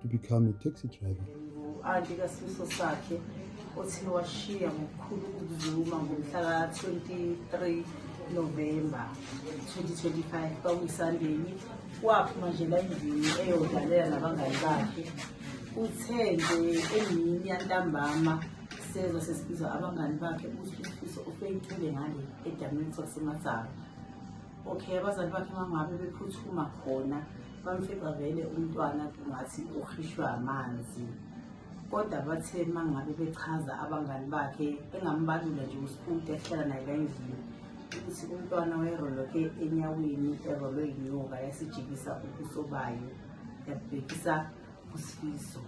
to become a taxi driver. Anti kasifiso sakhe othi washiya ngokukhulu ukuzuma ngomhla ka-23 November 2025 kwakuyiSandeni waphuma nje la endlini eyodlalela nabangani bakhe uthe nje emini yantambama sezwa sesibizwa abangani bakhe ukuthi usifiso ufeyithule ngale edamini sasemasaba okay abazali bakhe mangabe bephuthuma khona bamfica vele umntwana kungathi ukhishwe amanzi kodwa bathe mangabe bechaza abangani bakhe engambalula nje usifundi ehlala naye la endlini ukuthi umntwana wayeroloke enyaweni erolwe yinyoka yasijikisa ubuso bayo yabhekisa usifiso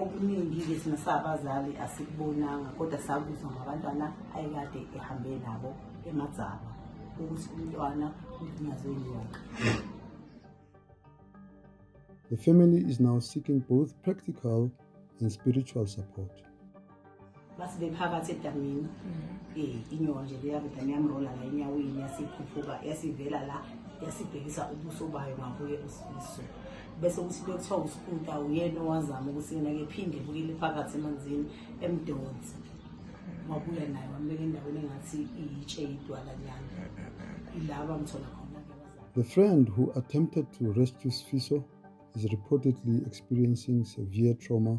okuningi-ke thina sabazali asikubonanga kodwa sakuzwa ngabantwana ayekade ehambe nabo emadzaba ukuthi umntwana ulinyazwe yonke The family is now seeking both practical and spiritual support. bathi bephakathi edamini um inyoka nje leyakuda niyamrola la enyaweni yasiphuphuka yasivela la yasibhekisa ubuso bayo ngakuye usifiso bese ukuthi bekuthiwa usikuta uyena owazama ukuthi yena ke phinde bukile phakathi emanzini emdonsi wabuya naye wambeka endaweni engathi iyitshe idwalanyana ilaba mthola khona The friend who attempted to rescue Sfiso is reportedly experiencing severe trauma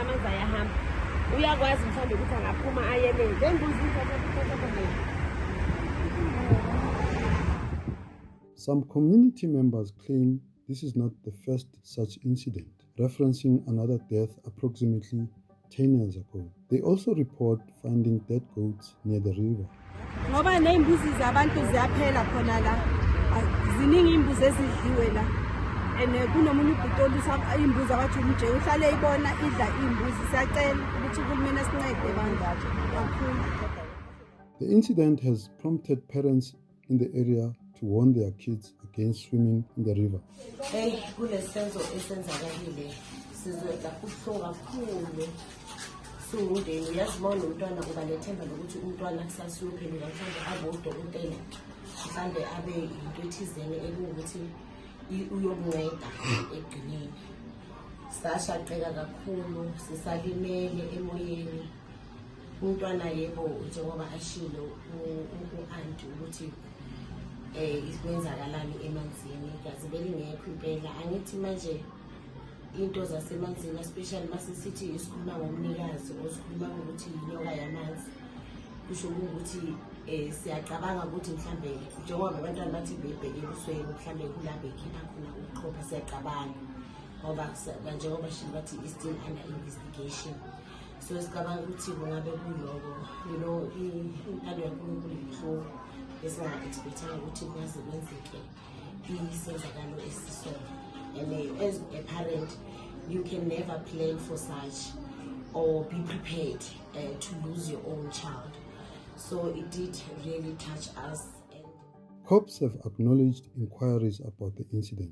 amanzi ayahamba uyakwazi mhlawumbe ukuthi angaphuma ayelele bengibuza Some community members claim this is not the first such incident, referencing another death approximately 10 years ago. They also report finding dead goats near the river. Ngoba neimbuzi zabantu ziyaphela khona la. Ziningi imbuzi ezidliwe la. And eh, kunomunye ubhuti olusa imbuzi abathi umje uhlale ibona idla imbuzi siyacela ukuthi uhulumeni asincede bandla kakhulu. The incident has prompted parents in the area to warn their kids against swimming in the river. siwumndeni uyazi uma unomntwana uba nethemba lokuthi umntwana kusasiyophendula mhlawumbe abe udokotela mhlawumbe abe yinto ethizene ekungukuthi uyokunceda ekugcineni sashaqeka kakhulu sisalimele emoyeni umntwana yebo njengoba ashilo u-anti ukuthi um ikwenzakalani emanzini gazi belingekho impela angithi manje into zasemanzini especially masisithi isikhuluma ngomnikazi osikhuluma ngokuthi yinyoka yamanzi kusho ukuthi um eh, siyacabanga ukuthi mhlawumbe njengoba abantwana bathi bebheke ebusweni mhlawumbe kulapho ekhipha khona ukuqhopha siyacabanga ngoba njengoba shini bathi i-still under investigation so sicabanga ukuthi kungabe kuloko you know intando yankulunkulu yinhloko esinga-expectanga ukuthi kwaze kwenzeke isenzakalo esisona and eh, as a parent you can never plan for such or be prepared uh, to lose your own child so it did really touch us Cops have acknowledged inquiries about the incident.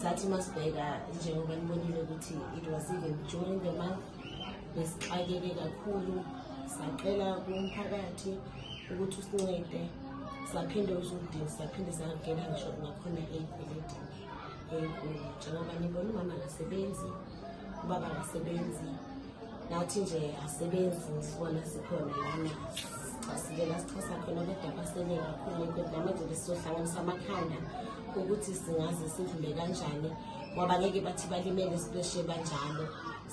sathi masibheka njengoba nibonile ukuthi it was even during the month besixakeke kakhulu sacela kumphakathi ukuthi usincede saphinde usudini saphinde sangena ngisho nakhona ey'kweletini enkulu njengoba nibona umama akasebenzi uba bangasebenzi nathi nje asebenzi sibona sikhona lana sicasukela sixhasa khona kodwa basele kakhulu kodwa namanje besizohlanganisa amakhanda ukuthi singaze sidlule kanjani ngoba ngeke bathi balimele sibeshe banjalo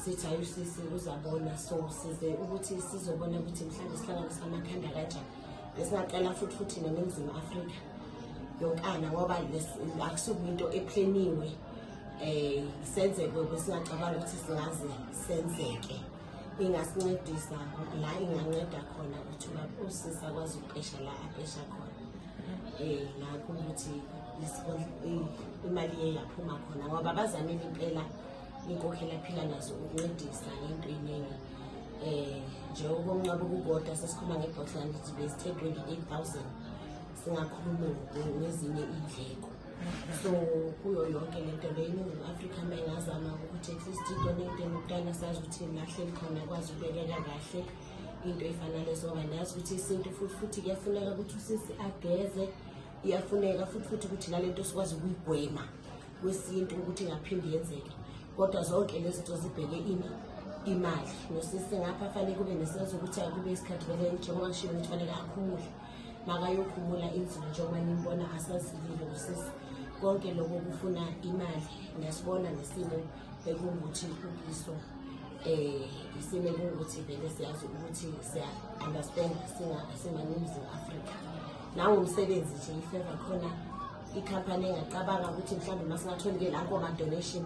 sithi hayi usisi uzabona so size ukuthi sizobona ukuthi mhlawumbe sihlanganisa amakhanda kanjani besingaqala futhi futhi neningizimu afrika yonkana ngoba akusuke into epleniwe eh senzeke kwesingacabanga ukuthi singaze senzeke ingasincedisa la inganceda khona ukuthi usisi akwazi ukupesha la apesha khona eh nakho ukuthi imali iye yaphuma khona ngoba bazamile impela inkokhela phila nazo ukuncedisa ngento iningi eh njengoba umnqaba ukukodwa sesikhuluma ngebhotlana lithi bezithe 28000 singakhuluma ngezinye indleko so kuyo yonke le nto le iningizimu afrika uma ingazama ukuthi at least into nenteni kuqala sazi ukuthi nahleli khona akwazi ukubekeka kahle into efana lezo ngoba nazi ukuthi isintu futhi futhi kuyafuneka ukuthi usisi ageze iyafuneka futhi futhi ukuthi nale nto sikwazi ukuyigwema kwesintu ukuthi ingaphindi yenzeke kodwa zonke lezi nto zibheke ini imali nosisi ngapha fanele kube nesenzo ukuthi akube isikhathi vele njengoba kushiwo ukuthi fanele akhumule makayokhumula inzima njengoba nimbona asazilile usisi konke lokho kufuna imali niyasibona nesimo bekungukuthi ukiso eh isimo ekungukuthi vele siyazi ukuthi siya understand singa simaninzi Africa nawo umsebenzi nje ifeva khona ikhampani engacabanga ukuthi mhlawumbe masingathola ke lapho ama donation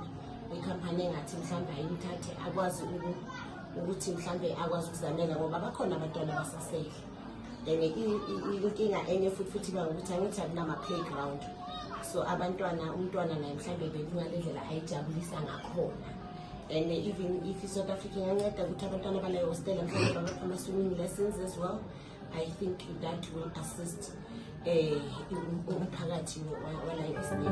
ikhampani engathi mhlawumbe ayimthathe akwazi ukuthi mhlawumbe akwazi ukuzanela ngoba bakhona abantwana basasele and inkinga enye futhi futhi ba ukuthi angithi akunama-playground so abantwana umntwana naye mhlawumbe bekungale ndlela ayijabulisa ngakhona and even if i-south africa inganceda ukuthi abantwana balayo hostela mhlawumbe babapha ama-swimming lessons as well i think that will assist um umphakathi walayo hostela